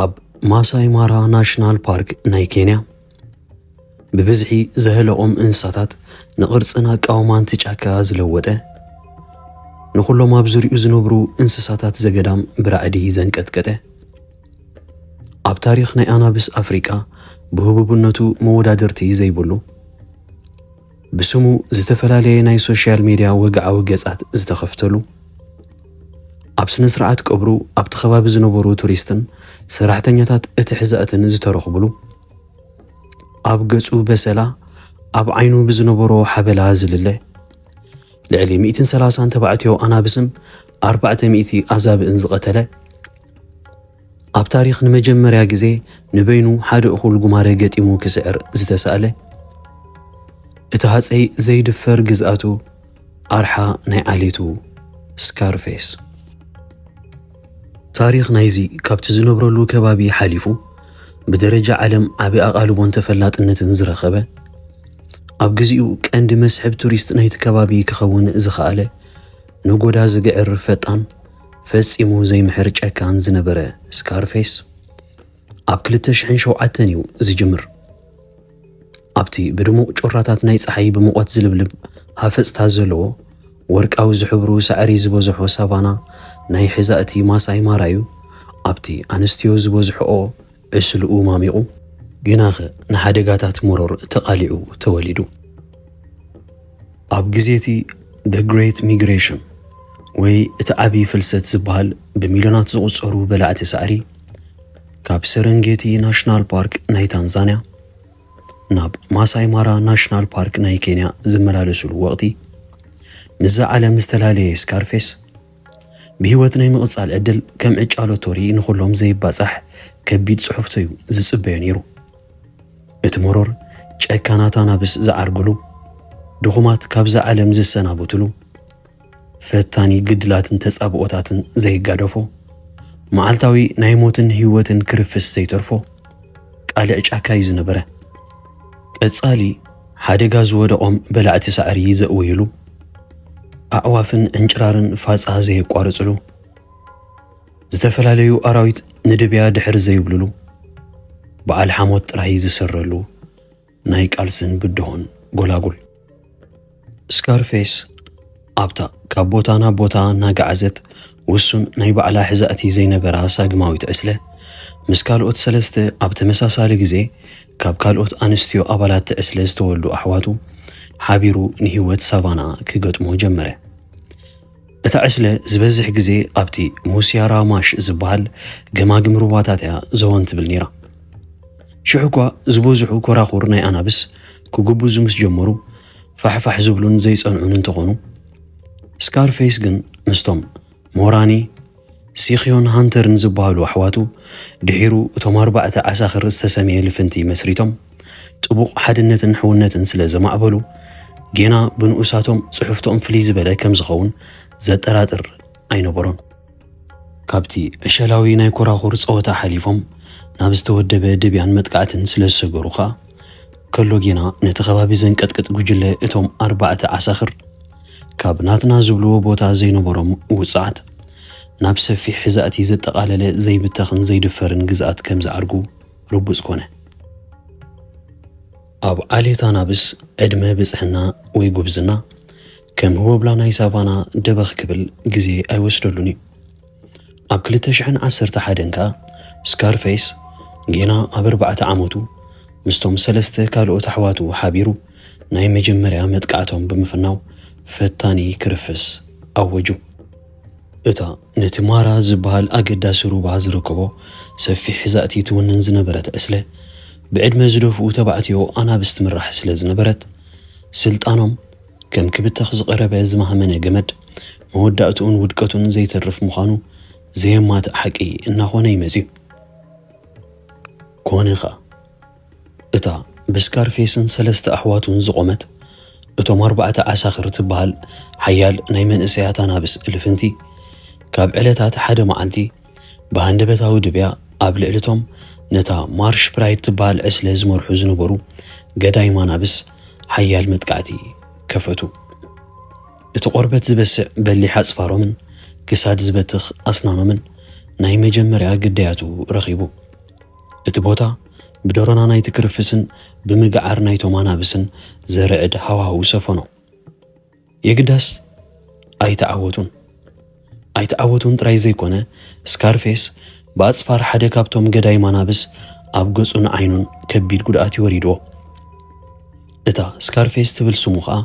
ኣብ ማሳይ ማራ ናሽናል ፓርክ ናይ ኬንያ ብብዝሒ ዘህለቖም እንስሳታት ንቕርፅን ኣቃውማን እቲ ጫካ ዝለወጠ ንኹሎም ኣብ ዙሪኡ ዝነብሩ እንስሳታት ዘገዳም ብራዕዲ ዘንቀጥቀጠ ኣብ ታሪኽ ናይ ኣናብስ ኣፍሪቃ ብህቡብነቱ መወዳድርቲ ዘይብሉ ብስሙ ዝተፈላለየ ናይ ሶሻል ሜድያ ወግዓዊ ገጻት ዝተኸፍተሉ፣ ኣብ ስነ ስርዓት ቀብሩ ኣብቲ ከባቢ ዝነበሩ ቱሪስትን ሰራሕተኛታት እቲ ሕዛእትን ዝተረኽብሉ፣ ኣብ ገጹ በሰላ ኣብ ዓይኑ ብዝነበሮ ሓበላ ዝልለ ልዕሊ ሚእትን ሰላሳን ተባዕትዮ ኣናብስን ኣርባዕተ ሚእቲ ኣዛብእን ዝቐተለ፣ ኣብ ታሪኽ ንመጀመርያ ግዜ ንበይኑ ሓደ እኹል ጉማረ ገጢሙ ክስዕር ዝተሳእለ፣ እቲ ሃጸይ ዘይድፈር ግዝኣቱ፣ ኣርሓ ናይ ዓሌቱ፣ ስካርፌስ። ታሪኽ ናይዚ ካብቲ ዝነብረሉ ከባቢ ሓሊፉ ብደረጃ ዓለም ዓቢ ኣቓልቦን ተፈላጥነትን ዝረኸበ፣ ኣብ ግዜኡ ቀንዲ መስሕብ ቱሪስት ናይቲ ከባቢ ክኸውን ዝኸኣለ፣ ነጎዳ ዝግዕር ፈጣን፣ ፈጺሙ ዘይምሕር ጨካን ዝነበረ ስካርፌስ ኣብ ክልተ ሽሕን ሸውዓተን እዩ ዝጅምር። ኣብቲ ብድሙቕ ጮራታት ናይ ጸሓይ ብሙቐት ዝልብልብ ሃፈጽታ ዘለዎ ወርቃዊ ዝሕብሩ ሳዕሪ ዝበዝሖ ሳቫና ናይ ሕዛእቲ ማሳይ ማራዩ ኣብቲ ኣንስትዮ ዝበዝሕኦ ዕስለኡ ማሚቑ፣ ግናኸ ንሓደጋታት መሮር ተቓሊዑ ተወሊዱ። ኣብ ግዜ እቲ The Great Migration ወይ እቲ ዓብዪ ፍልሰት ዝበሃል ብሚልዮናት ዝቑጸሩ በላዕቲ ሳዕሪ ካብ ሰረንጌቲ ናሽናል ፓርክ ናይ ታንዛንያ ናብ ማሳይ ማራ ናሽናል ፓርክ ናይ ኬንያ ዝመላለሱሉ ወቕቲ ምስዛ ዓለም ዝተላለየ ስካርፌስ ብህይወት ናይ ምቕጻል ዕድል ከም ዕጫ ሎቶሪ ንኹሎም ዘይባጻሕ ከቢድ ጽሑፍቶ'ዩ ዝጽበዮ ነይሩ። እቲ መሮር ጨካናት ኣናብስ ዝዓርግሉ፣ ድኹማት ካብዛ ዓለም ዝሰናበትሉ፣ ፈታኒ ግድላትን ተጻብኦታትን ዘይጋደፎ፣ መዓልታዊ ናይ ሞትን ህይወትን ክርፍስ ዘይተርፎ ቃልዕ ጫካ'ዩ ዝነበረ። ቀጻሊ። ሓደጋ ዝወደቖም በላዕቲ ሳዕሪ ዘእውዩሉ፣ ኣዕዋፍን ዕንጭራርን ፋፃ ዘየቋርፅሉ፣ ዝተፈላለዩ ኣራዊት ንድብያ ድሕር ዘይብሉሉ፣ በዓል ሓሞት ጥራይ ዝስረሉ ናይ ቃልስን ብድሆን ጎላጉል። ስካርፌስ ኣብታ ካብ ቦታ ናብ ቦታ እናገዓዘት ውሱን ናይ ባዕላ ሕዛእቲ ዘይነበራ ሳግማዊት ዕስለ፣ ምስ ካልኦት ሰለስተ ኣብ ተመሳሳሊ ግዜ ካብ ካልኦት ኣንስትዮ ኣባላት'ቲ ዕስለ ዝተወልዱ ኣሕዋቱ ሓቢሩ ንህይወት ሳቫና ክገጥሞ ጀመረ። እታ ዕስለ ዝበዝሕ ግዜ ኣብቲ ሙስያራ ማሽ ዝበሃል ገማግም ሩባታት'ያ ዘወን ትብል ነይራ። ሽሕ'ኳ ዝበዝሑ ኮራኹር ናይ ኣናብስ ክጉብዙ ምስ ጀመሩ፣ ፋሕፋሕ ዝብሉን ዘይጸንዑን እንተኾኑ፣ ስካርፌስ ግን ምስቶም ሞራኒ፣ ሲክዮን ሃንተርን ዝበሃሉ ኣሕዋቱ፣ ድሒሩ እቶም ኣርባዕተ ዓሳክር ዝተሰምየ ልፍንቲ መስሪቶም፣ ጥቡቕ ሓድነትን ሕውነትን ስለ ዘማዕበሉ፣ ጌና ብንኡሳቶም ጽሕፍቶም ፍልይ ዝበለ ከም ዝኸውን ዘጠራጥር ኣይነበሮን። ካብቲ ዕሸላዊ ናይ ኮራኹር ጸወታ ሓሊፎም ናብ ዝተወደበ ደብያን መጥቃዕትን ስለ ዝሰገሩ ከኣ፣ ከሎ ጌና ነቲ ከባቢ ዘንቀጥቅጥ ጉጅለ እቶም ኣርባዕተ ዓሳኽር፣ ካብ ናትና ዝብልዎ ቦታ ዘይነበሮም ውጹዓት፣ ናብ ሰፊሕ ሕዛእቲ ዘጠቓለለ ዘይብተኽን ዘይድፈርን ግዝኣት ከም ዝዓርጉ ርቡጽ ኮነ። ኣብ ዓሌት ኣናብስ፣ ዕድመ ብጽሕና ወይ ጉብዝና ከም ህቦብላ ናይ ሳቫና ደበኽ ክብል ግዜ ኣይወስደሉን እዩ። ኣብ ክልተ ሽሕን ዓሰርተ ሓደን ከኣ ስካርፈይስ ጌና ኣብ ኣርባዕተ ዓመቱ ምስቶም ሰለስተ ካልኦት ኣሕዋቱ ሓቢሩ ናይ መጀመርያ መጥቃዕቶም ብምፍናው ፈታኒ ክርፍስ ኣወጁ። እታ ነቲ ማራ ዝበሃል ኣገዳሲ ሩባ ዝርከቦ ሰፊሕ ዛእቲ ትውንን ዝነበረት ዕስለ ብዕድመ ዝደፍኡ ተባዕትዮ ኣናብስ ትምራሕ ስለ ዝነበረት ስልጣኖም፣ ከም ክብተኽ ዝቐረበ ዝማህመነ ገመድ፣ መወዳእትኡን ውድቀቱን ዘይተርፍ ምዃኑ ዘየማትእ ሓቂ እናኾነ'ዩ መጺኡ። ኮነ ኸኣ፣ እታ ብስካርፌስን ሰለስተ ኣሕዋቱን ዝቖመት፣ እቶም ኣርባዕተ ዓሳኽር ትበሃል ሓያል ናይ መንእሰያት ኣናብስ ልፍንቲ፣ ካብ ዕለታት ሓደ መዓልቲ፣ ብሃንደበታዊ ድብያ ኣብ ልዕሊ'ቶም ነታ ማርሽ ፕራይድ ትበሃል ዕስለ ዝመርሑ ዝነበሩ ገዳይም ኣናብስ ሓያል መጥቃዕቲ ከፈቱ። እቲ ቆርበት ዝበስዕ በሊሕ ኣጽፋሮምን ክሳድ ዝበትኽ ኣስናኖምን ናይ መጀመርያ ግዳያቱ ረኺቡ። እቲ ቦታ ብደሮና ናይቲ ክርፍስን ብምግዓር ናይቶም ኣናብስን ዘርዕድ ሃዋህው ሰፈኖ። የግዳስ ኣይተዓወቱን። ኣይተዓወቱን ጥራይ ዘይኮነ ስካርፌስ ብኣጽፋር ሓደ ካብቶም ገዳይ ማናብስ ኣብ ገጹን ዓይኑን ከቢድ ጉድኣት ይወሪድዎ። እታ ስካርፌስ ትብል ስሙ ከኣ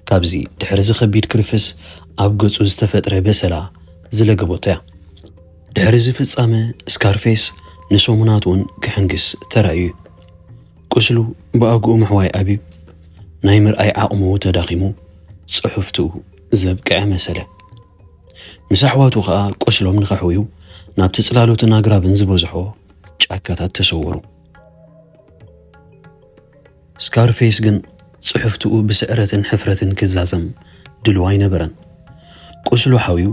ካብዚ ድሕርዚ ከቢድ ክርፍስ ኣብ ገጹ ዝተፈጥረ በሰላ ዝለገበቶ እያ። ድሕርዚ ፍጻመ ስካርፌስ ንሰሙናት እውን ክሕንግስ ተራእዩ እዩ። ቁስሉ ብኣግኡ ምሕዋይ ኣብዩ፣ ናይ ምርኣይ ዓቕሙ ተዳኺሙ ጽሑፍቱ ዘብቅዐ መሰለ። ምስ ኣሕዋቱ ከኣ ቁስሎም ንኸሕውዩ ናብቲ ጽላሎትን ኣግራብን ዝበዝሖ ጫካታት ተሰወሩ። ስካርፌስ ግን ጽሕፍትኡ ብስዕረትን ሕፍረትን ክዛዘም ድሉው ኣይነበረን። ቁስሉ ሓውዩ፣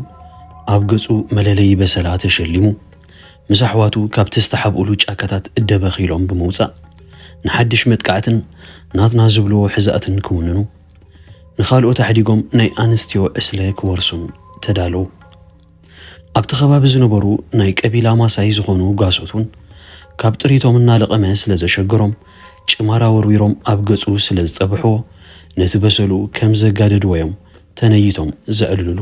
ኣብ ገጹ መለለዪ በሰላ ተሸሊሙ፣ ምስ ኣሕዋቱ ካብቲ ዝተሓብኡሉ ጫካታት እደበኽ ኢሎም ብምውጻእ፣ ንሓድሽ መጥቃዕትን ናትና ዝብልዎ ሕዛእትን ክውንኑ፣ ንኻልኦት ኣሕዲጎም ናይ ኣንስትዮ ዕስለ ክወርሱን ተዳለዉ። ኣብቲ ከባቢ ዝነበሩ ናይ ቀቢላ ማሳይ ዝኾኑ ጓሶት ውን ካብ ጥሪቶም እናለቐመ ስለ ዘሸገሮም ጭማራ ወርዊሮም ኣብ ገጹ ስለ ዝጠብሕዎ ነቲ በሰሉ ከም ዘጋደድዎ'ዮም ተነይቶም ዘዕልሉሉ።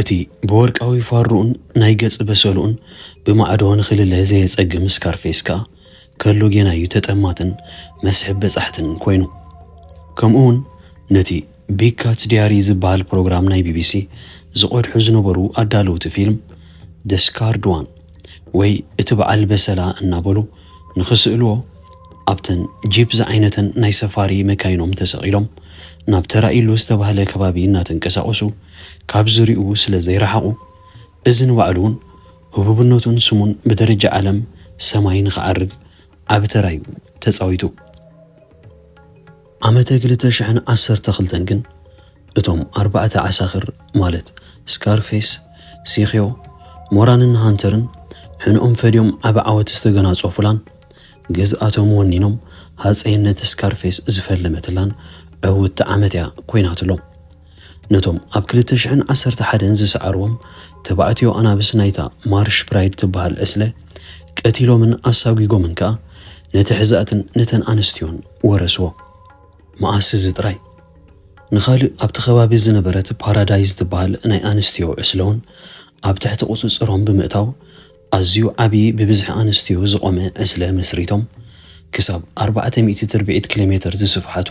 እቲ ብወርቃዊ ፋርሩኡን ናይ ገጽ በሰሉኡን ብማዕዶ ንኽልለ ዘየጸግም ስካርፌስ ከኣ ከሎ ጌና እዩ ተጠማትን መስሕብ በጻሕትን ኮይኑ። ከምኡ'ውን ነቲ ቢግ ካትስ ዲያሪ ዝበሃል ፕሮግራም ናይ ቢቢሲ ዝቐድሑ ዝነበሩ ኣዳለውቲ ፊልም The Scarred One ወይ እቲ በዓል በሰላ እናበሉ ንኽስእልዎ ኣብተን ጂፕ ዝዓይነተን ናይ ሰፋሪ መካይኖም ተሰቒሎም ናብ ተራኢሉ ዝተባህለ ከባቢ እናተንቀሳቐሱ ካብ ዝሪኡ ስለ ዘይረሓቑ እዚ ንባዕሉ'ውን ህቡብነቱን ስሙን ብደረጃ ዓለም ሰማይ ንኽዓርግ ዓቢ ተራ'ዩ ተጻዊቱ። ዓመተ ክልተ ሽሕን ዓሰርተ ክልተን ግን እቶም ኣርባዕተ ዓሳኽር ማለት ስካርፌስ፣ ሲክዮ፣ ሞራንን ሃንተርን ሕንኦም ፈድዮም ዓቢ ዓወት ዝተገናጸፉላን ግዝኣቶም ወኒኖም ሃጸይነት ስካርፌስ ዝፈለመትላን ዕውትቲ ዓመት'ያ ኮይናትሎም። ነቶም ኣብ ክልተ ሽሕን ዓሰርተ ሓደን ዝሰዓርዎም ተባዕትዮ ኣናብስ ናይታ ማርሽ ፕራይድ ትበሃል ዕስለ ቀቲሎምን ኣሳጒጎምን ከኣ ነቲ ሕዛእትን ነተን ኣንስትዮን ወረስዎ። መኣስ እዚ ጥራይ፣ ንኻልእ ኣብቲ ከባቢ ዝነበረት ፓራዳይዝ ትበሃል ናይ ኣንስትዮ ዕስለ'ውን ኣብ ትሕቲ ቁጽጽሮም ብምእታው፣ ኣዝዩ ዓቢ ብብዝሒ ኣንስትዮ ዝቖመ ዕስለ መስሪቶም፣ ክሳብ ኣርባዕተ ሚእቲ ትርብዒት ኪሎሜተር ዝስፍሓቱ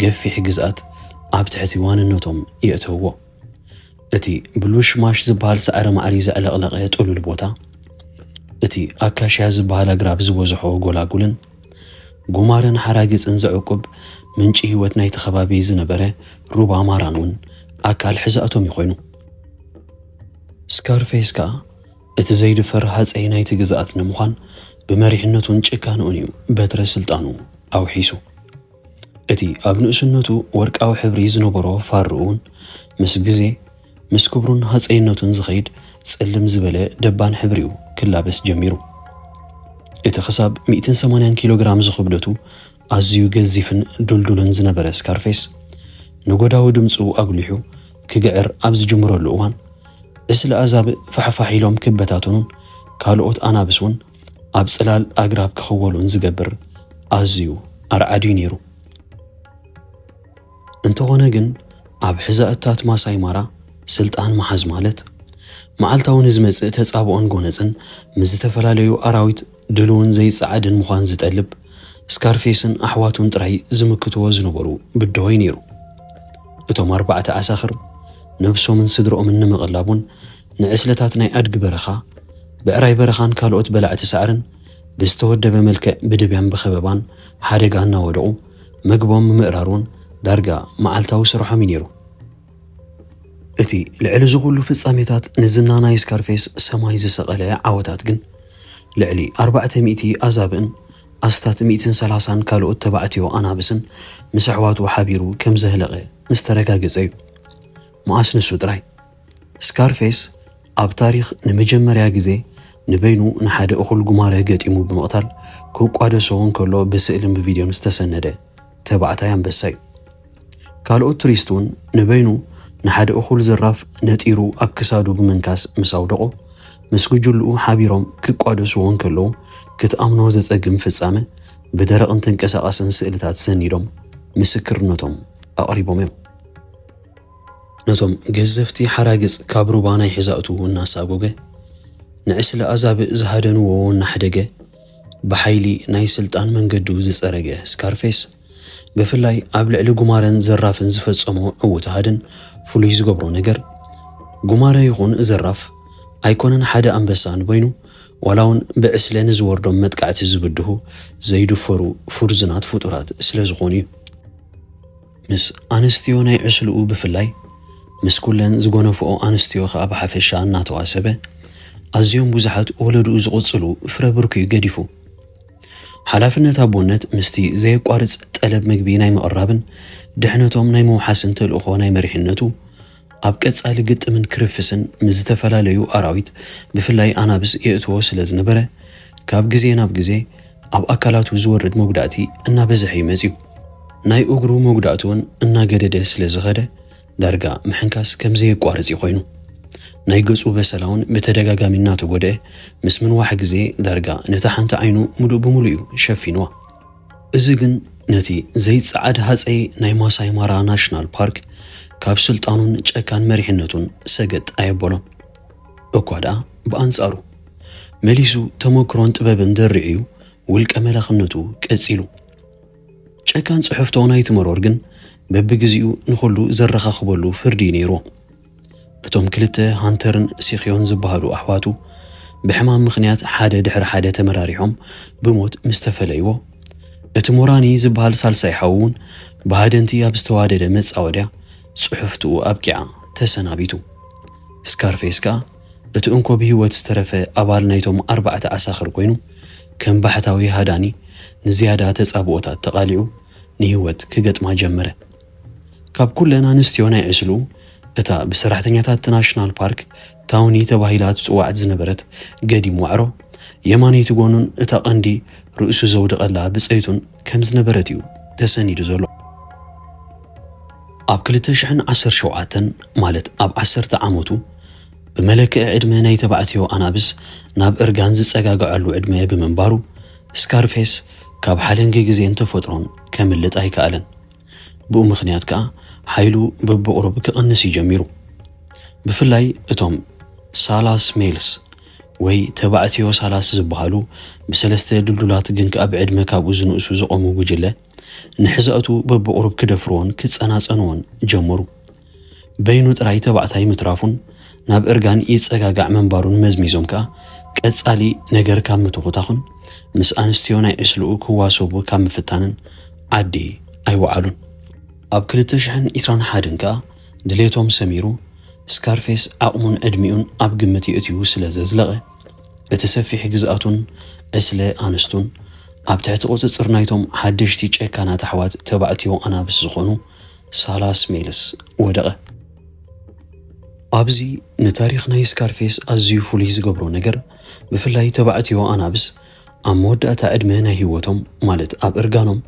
ገፊሕ ግዝኣት ኣብ ትሕቲ ዋንነቶም የእተውዎ። እቲ ብሉሽ ማሽ ዝበሃል ሳዕሪ ማዕሪ ዘዕለቕለቐ ጥሉል ቦታ፣ እቲ ኣካሽያ ዝበሃል ኣግራብ ዝበዝሖ ጎላጉልን ጉማረን ሓራግጽን ዘዕቁብ ምንጪ ህይወት ናይቲ ከባቢ ዝነበረ ሩባ ማራን እውን ኣካል ሕዛእቶም እዩ ኮይኑ። ስካርፌስ ከኣ እቲ ዘይድፈር ሃጸይ ናይቲ ግዝኣት ንምዃን ብመሪሕነቱን ጭካነኡን እዩ በትረ ስልጣኑ ኣውሒሱ። እቲ ኣብ ንእስነቱ ወርቃዊ ሕብሪ ዝነበሮ ፋርኡ'ውን ምስ ግዜ ምስ ክብሩን ሃጸይነቱን ዝኸይድ ጽልም ዝበለ ደባን ሕብሪ'ዩ ክላበስ ጀሚሩ። እቲ ክሳብ ሚእትን ሰማንያን ኪሎግራም ዝኽብደቱ ኣዝዩ ገዚፍን ድልዱልን ዝነበረ ስካርፌስ፣ ነጐዳዊ ድምጹ ኣጕሊሑ ክግዕር ኣብ ዝጅምረሉ እዋን፣ ዕስለ ኣዛብእ ፋሕፋሕ ኢሎም ክበታተኑን ካልኦት ኣናብስ እውን ኣብ ጽላል ኣግራብ ክኽወሉን ዝገብር ኣዝዩ ኣርዓድ እዩ ነይሩ። እንተዀነ ግን፣ ኣብ ሕዛእትታት ማሳይ ማራ ስልጣን ምሓዝ ማለት፣ መዓልታዊ ንዝመጽእ ተጻብኦን ጐነጽን ምስ ዝተፈላለዩ ኣራዊት ድሉውን ዘይጸዓድን ምዃን ዝጠልብ፣ ስካርፌስን ኣሕዋቱን ጥራይ ዝምክትዎ ዝነበሩ ብደሆይ ነይሩ። እቶም ኣርባዕተ ዓሳኽር፣ ነብሶምን ስድርኦምን ንምቕላቡን ንዕስለታት ናይ ኣድጊ በረኻ፣ ብዕራይ በረኻን ካልኦት በላዕቲ ሳዕርን ብዝተወደበ መልክዕ ብድብያን ብኸበባን ሓደጋ እናወደቑ መግቦም ምምእራሩን ዳርጋ መዓልታዊ ስርሖም'ዩ ነይሩ። እቲ ልዕሊ እዚ ኹሉ ፍጻሜታት ንዝና ናይ ስካርፌስ ሰማይ ዝሰቐለ ዓወታት ግን፣ ልዕሊ ኣርባዕተ ሚእቲ ኣዛብእን ኣስታት ሚእትን ሰላሳን ካልኦት ተባዕትዮ ኣናብስን ምስ ኣሕዋቱ ሓቢሩ ከም ዘህለቐ ምስ ተረጋገጸ እዩ። መኣስ ንሱ ጥራይ? ስካርፌስ ኣብ ታሪኽ ንመጀመርያ ግዜ ንበይኑ ንሓደ እኹል ጉማረ ገጢሙ ብምቕታል ክቋደሶ እንከሎ ብስእልን ብቪድዮን ዝተሰነደ ተባዕታይ ኣንበሳ እዩ። ካልኦት ቱሪስት እውን ንበይኑ ንሓደ እኹል ዘራፍ ነጢሩ ኣብ ክሳዱ ብምንካስ ምስ ኣውደቖ፣ ምስ ጉጅልኡ ሓቢሮም ክቋደስዎ እንከለዉ ክትኣምኖ ዘጸግም ፍጻመ ብደረቕን ተንቀሳቓስን ስእልታት ሰኒዶም ምስክርነቶም ኣቕሪቦም እዮም። ነቶም ገዘፍቲ ሓራግጽ ካብ ሩባ ናይ ሕዛእቱ እናሳጎገ፣ ንዕስለ ኣዛብእ ዝሃደንዎ እናሕደገ፣ ብሓይሊ ናይ ስልጣን መንገዱ ዝጸረገ ስካርፌስ፣ ብፍላይ ኣብ ልዕሊ ጉማረን ዘራፍን ዝፈጸሞ ዕዉት ሃድን ፍሉይ ዝገብሮ ነገር፣ ጉማረ ይኹን ዘራፍ ኣይኮነን ሓደ ኣንበሳ እንበይኑ፣ ዋላውን ብዕስለ ንዝወርዶም መጥቃዕቲ ዝብድሁ ዘይድፈሩ ፍርዙናት ፍጡራት ስለዝኾኑ'ዩ። ምስ ኣንስትዮ ናይ ዕስልኡ ብፍላይ ምስ ኩለን ዝጎነፍኦ ኣንስትዮ ከኣ ብሓፈሻ እናተዋሰበ ኣዝዮም ብዙሓት ወለድኡ ዝቕጽሉ ፍረ ብርኩ'ዩ ገዲፉ። ሓላፍነት ኣቦነት ምስቲ ዘየቋርጽ ጠለብ ምግቢ ናይ ምቕራብን ድሕነቶም ናይ ምውሓስን ተልእኾ ናይ መሪሕነቱ ኣብ ቀጻሊ ግጥምን ክርፍስን ምስ ዝተፈላለዩ ኣራዊት ብፍላይ ኣናብስ የእትዎ ስለ ዝነበረ ካብ ግዜ ናብ ግዜ ኣብ ኣካላቱ ዝወርድ መጉዳእቲ እናበዝሐ እዩ መጺኡ። ናይ እግሩ መጉዳእቲ እውን እናገደደ ስለ ዝኸደ ዳርጋ ምሕንካስ ከም ዘየቋርጽ እዩ ኮይኑ። ናይ ገጹ በሰላ እውን ብተደጋጋሚ እናተጎድኤ ምስ ምንዋሕ ግዜ ዳርጋ ነታ ሓንቲ ዓይኑ ምሉእ ብምሉእ እዩ ሸፊንዋ። እዚ ግን ነቲ ዘይጸዓድ ሃጸይ ናይ ማሳይ ማራ ናሽናል ፓርክ ካብ ስልጣኑን ጨካን መሪሕነቱን ሰገጥ ኣየበሎን። እኳ ደኣ ብኣንጻሩ መሊሱ ተመክሮን ጥበብን ደሪዑ'ዩ ውልቀ መላኽነቱ ቀጺሉ። ጨካን ጽሕፍቶ ናይቲ መሮር ግን በብግዜኡ ንኹሉ ዘረኻኽበሉ ፍርዲ'ዩ ነይሩ። እቶም ክልተ ሃንተርን ሲክዮን ዝበሃሉ ኣሕዋቱ ብሕማም ምኽንያት ሓደ ድሕሪ ሓደ ተመራሪሖም ብሞት ምስ ተፈለይዎ፣ እቲ ሞራኒ ዝበሃል ሳልሳይ ሓዉ እውን ብሃደንቲ ኣብ ዝተዋደደ መጻወድያ ጽሑፍትኡ ኣብቂዓ ተሰናቢቱ። ስካርፌስ ከኣ እቲ እንኮ ብህይወት ዝተረፈ ኣባል ናይቶም ኣርባዕተ ዓሳኽር ኮይኑ፣ ከም ባሕታዊ ሃዳኒ ንዝያዳ ተጻብኦታት ተቓሊዑ ንህይወት ክገጥማ ጀመረ። ካብ ኩለን ኣንስትዮ ናይ ዕስሉ፣ እታ ብሰራሕተኛታት እቲ ናሽናል ፓርክ ታውኒ ተባሂላ ትጽዋዕት ዝነበረት ገዲም ዋዕሮ፣ የማነይቲ ጎኑን እታ ቀንዲ ርእሱ ዘውድቐላ ብጸይቱን ከም ዝነበረት እዩ ተሰኒዱ ዘሎ። ኣብ ክልተ ሽሕን ዓሰርተ ሸውዓተን፣ ማለት ኣብ ዓሰርተ ዓመቱ፣ ብመለክዒ ዕድመ ናይ ተባዕትዮ ኣናብስ ናብ እርጋን ዝጸጋግዐሉ ዕድመ ብምንባሩ፣ ስካርፌስ ካብ ሓለንጊ ግዜን ተፈጥሮን ከምልጥ ኣይከኣለን። ብኡ ምኽንያት ከኣ ሓይሉ በብቑሩብ ክቕንስ እዩ ጀሚሩ። ብፍላይ እቶም ሳላስ ሜልስ ወይ ተባዕትዮ ሳላስ ዝበሃሉ ብሰለስተ ድልዱላት ግን ከኣ ብዕድመ ካብኡ ዝንእሱ ዝቖሙ ጉጅለ፣ ንሕዛኡቱ በብቑሩብ ክደፍርዎን ክጸናጸንዎን ጀመሩ። በይኑ ጥራይ ተባዕታይ ምትራፉን ናብ እርጋን ይጸጋጋዕ ምንባሩን መዝሚዞም ከኣ ቀጻሊ ነገር ካብ ምትኹታኹን ምስ ኣንስትዮ ናይ ዕስለኡ ክዋሰቡ ካብ ምፍታንን ዓዲ ኣይወዓሉን። ኣብ ክልተ ሽሕን ዕስራን ሓደን ከኣ ድሌቶም ሰሚሩ፣ ስካርፌስ ዓቕሙን ዕድሚኡን ኣብ ግምት የእትዩ ስለ ዘዝለቐ፣ እቲ ሰፊሕ ግዝኣቱን ዕስለ ኣንስቱን ኣብ ትሕቲ ቁጽጽር ናይቶም ሓደሽቲ ጨካናት ኣሕዋት ተባዕትዮ ኣናብስ ዝኾኑ ሳላስ ሜልስ ወደቐ። ኣብዚ ንታሪኽ ናይ ስካርፌስ ኣዝዩ ፍሉይ ዝገብሮ ነገር፣ ብፍላይ ተባዕትዮ ኣናብስ ኣብ መወዳእታ ዕድመ ናይ ህይወቶም፣ ማለት ኣብ እርጋኖም፣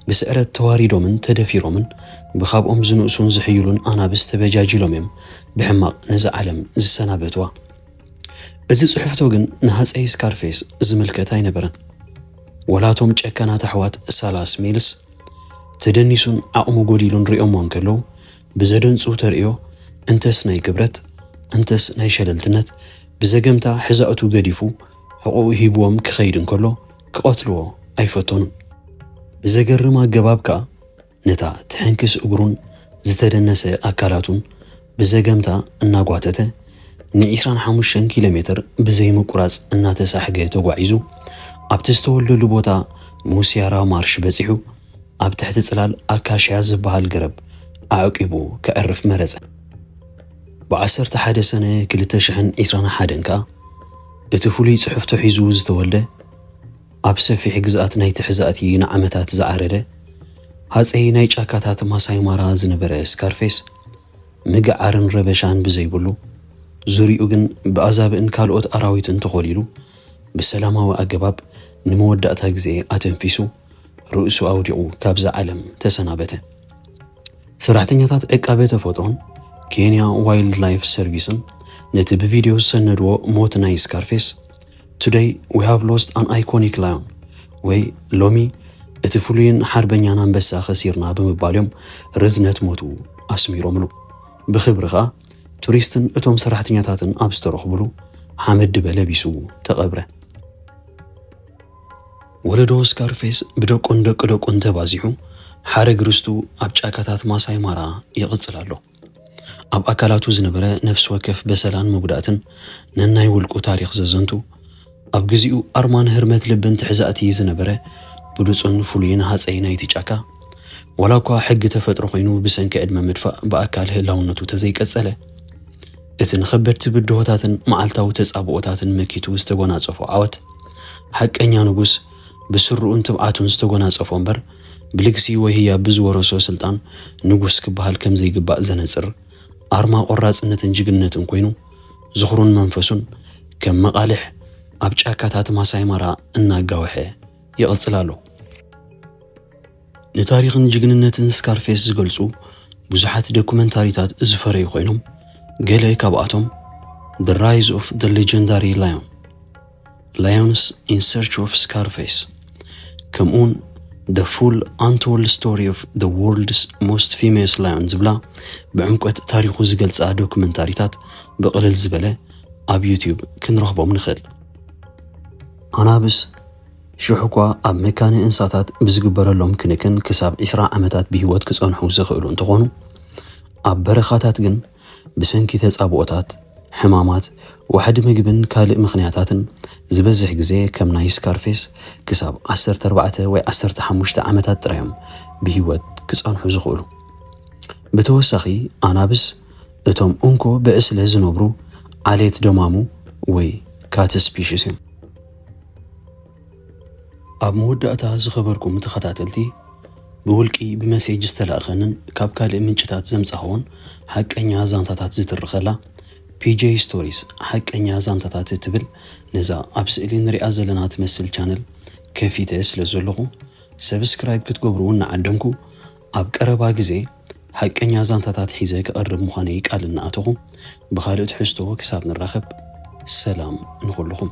ብስዕረት ተዋሪዶምን ተደፊሮምን ብካብኦም ዝንእሱን ዝሕይሉን ኣናብስ ተበጃጂሎም እዮም ብሕማቕ ነዛ ዓለም ዝሰናበትዋ። እዚ ጽሑፍቶ ግን ንሃጸይ ስካርፌስ ዝምልከት ኣይነበረን። ወላ እቶም ጨካናት ኣሕዋት ሳላስ ሜልስ፣ ተደኒሱን ዓቕሙ ጎዲሉን ሪኦሞ እንከለዉ ብዘደንጹ ተርእዮ እንተስ ናይ ክብረት እንተስ ናይ ሸለልትነት ብዘገምታ ሕዛኡቱ ገዲፉ ሕቖኡ ሂብዎም ክኸይድ እንከሎ ክቐትልዎ ኣይፈተኑን። ብዘገርም ኣገባብ ከኣ ነታ ትሕንክስ እግሩን ዝተደነሰ ኣካላቱን ብዘገምታ እናጓተተ ንዒስራን ሓሙሽተን ኪሎ ሜትር ብዘይምቁራፅ እናተሳሕገ ተጓዒዙ ኣብቲ ዝተወልደሉ ቦታ ሙሲያራ ማርሽ በፂሑ ኣብ ትሕቲ ፅላል ኣካሽያ ዝበሃል ገረብ ኣዕቂቡ ከዕርፍ መረፀ። ብዓሰርተ ሓደ ሰነ ክልተ ሽሕን ዒስራን ሓደን ከዓ እቲ ፍሉይ ፅሑፍቶ ሒዙ ዝተወልደ ኣብ ሰፊሕ ግዝኣት ናይ ተሕዛእቲ ንዓመታት ዝዓረደ ሃጸይ ናይ ጫካታት ማሳይ ማራ ዝነበረ ስካርፌስ፣ ምግዓርን ረበሻን ብዘይብሉ፣ ዙርይኡ ግን ብኣዛብእን ካልኦት ኣራዊትን ተኾሊሉ፣ ብሰላማዊ ኣገባብ ንመወዳእታ ግዜ ኣተንፊሱ ርእሱ ኣውዲቑ ካብዛ ዓለም ተሰናበተ። ሰራሕተኛታት ዕቃበ ተፈጥሮን ኬንያ ዋይልድላይፍ ሰርቪስን ነቲ ብቪድዮ ዝሰነድዎ ሞት ናይ ስካርፌስ ቱደይ ዊ ሃቭ ሎስት ኣን ኣይኮኒክ ላዮን ወይ ሎሚ እቲ ፍሉይን ሓርበኛን ኣንበሳ ከሲርና ብምባል እዮም ርዝነት ሞቱ ኣስሚሮምሉ። ብኽብሪ ከኣ ቱሪስትን እቶም ሰራሕተኛታትን ኣብ ዝተረኽቡሉ ሓመድ ድበ ለቢሱ ተቐብረ። ወለዶ ስካርፌስ ብደቁን ደቂ ደቁን ተባዚሑ ሓረግ ርስቱ ኣብ ጫካታት ማሳይ ማራ ይቕጽል ኣሎ። ኣብ ኣካላቱ ዝነበረ ነፍሲ ወከፍ በሰላን መጉዳእትን ነናይ ውልቁ ታሪኽ ዘዘንቱ፣ ኣብ ግዚኡ ኣርማ ንህርመት ልብን ትሕዛእቲ ዝነበረ ብሉጽን ፍሉይን ሃጸይ ናይቲ ጫካ፣ ዋላኳ ሕጊ ተፈጥሮ ኮይኑ ብሰንኪ ዕድመ ምድፋእ ብኣካል ህላውነቱ ተዘይቀጸለ፣ እቲ ንኸበድቲ ብድሆታትን መዓልታዊ ተጻብኦታትን መኪቱ ዝተጎናጸፎ ዓወት፣ ሓቀኛ ንጉስ ብስርኡን ትብዓቱን ዝተጎናጸፎ እምበር፣ ብልግሲ ወይ ህያብ ብዝወረሶ ስልጣን ንጉስ ክበሃል ከም ዘይግባእ ዘነጽር ኣርማ ቆራጽነትን ጅግንነትን ኮይኑ ዝኽሩን መንፈሱን ከም መቓልሕ ኣብ ጫካታት ማሳይ ማራ እናጋወሐ ይቕጽል ኣሎ። ንታሪኽን ጅግንነትን ስካርፌስ ዝገልጹ ብዙሓት ዶኩመንታሪታት ዝፈረዩ ኮይኖም ገለ ካብኣቶም The Rise of the Legendary Lion፣ ላዮንስ ኢን ሰርች ኦፍ ስካርፌስ ከምኡውን The Full Untold Story of the World's Most Famous Lion ዝብላ ብዕምቆት ታሪኹ ዝገልጻ ዶክመንታሪታት ብቕልል ዝበለ ኣብ ዩትዩብ ክንረኽቦም ንኽእል። ኣናብስ ሽሕ እኳ ኣብ መካነ እንስሳታት ብዝግበረሎም ክንክን ክሳብ ዕስራ ዓመታት ብህይወት ክጸንሑ ዝኽእሉ እንተኾኑ ኣብ በረኻታት ግን ብሰንኪ ተጻብኦታት፣ ሕማማት፣ ዋሕዲ ምግብን ካልእ ምኽንያታትን፣ ዝበዝሕ ግዜ ከም ናይ ስካርፌስ ክሳብ ዓሰርተ ኣርባዕተ ወይ ዓሰርተ ሓሙሽተ ዓመታት ጥራይ'ዮም ብህይወት ክጸንሑ ዝኽእሉ። ብተወሳኺ፣ ኣናብስ እቶም እንኮ ብዕስለ ዝነብሩ ዓሌት ደማሙ ወይ ካት ስፒሽስ'ዮም። ኣብ መወዳእታ ዝኸበርኩም ተኸታተልቲ ብውልቂ ብመሴጅ ዝተላእኸንን ካብ ካልእ ምንጭታት ዘምጻኹዎን ሓቀኛ ዛንታታት ዝትርኸላ ፒጄ ስቶሪስ ሓቀኛ ዛንታታት እትብል ነዛ ኣብ ስእሊ ንሪኣ ዘለና ትመስል ቻነል ከፊተ ስለ ዘለኹ ሰብስክራይብ ክትገብሩ እናዓደምኩ ኣብ ቀረባ ግዜ ሓቀኛ ዛንታታት ሒዘ ክቐርብ ምዃነይ ቃል እናኣተኹ፣ ብኻልእ ትሕዝቶ ክሳብ ንራኸብ ሰላም ንኹሉኹም።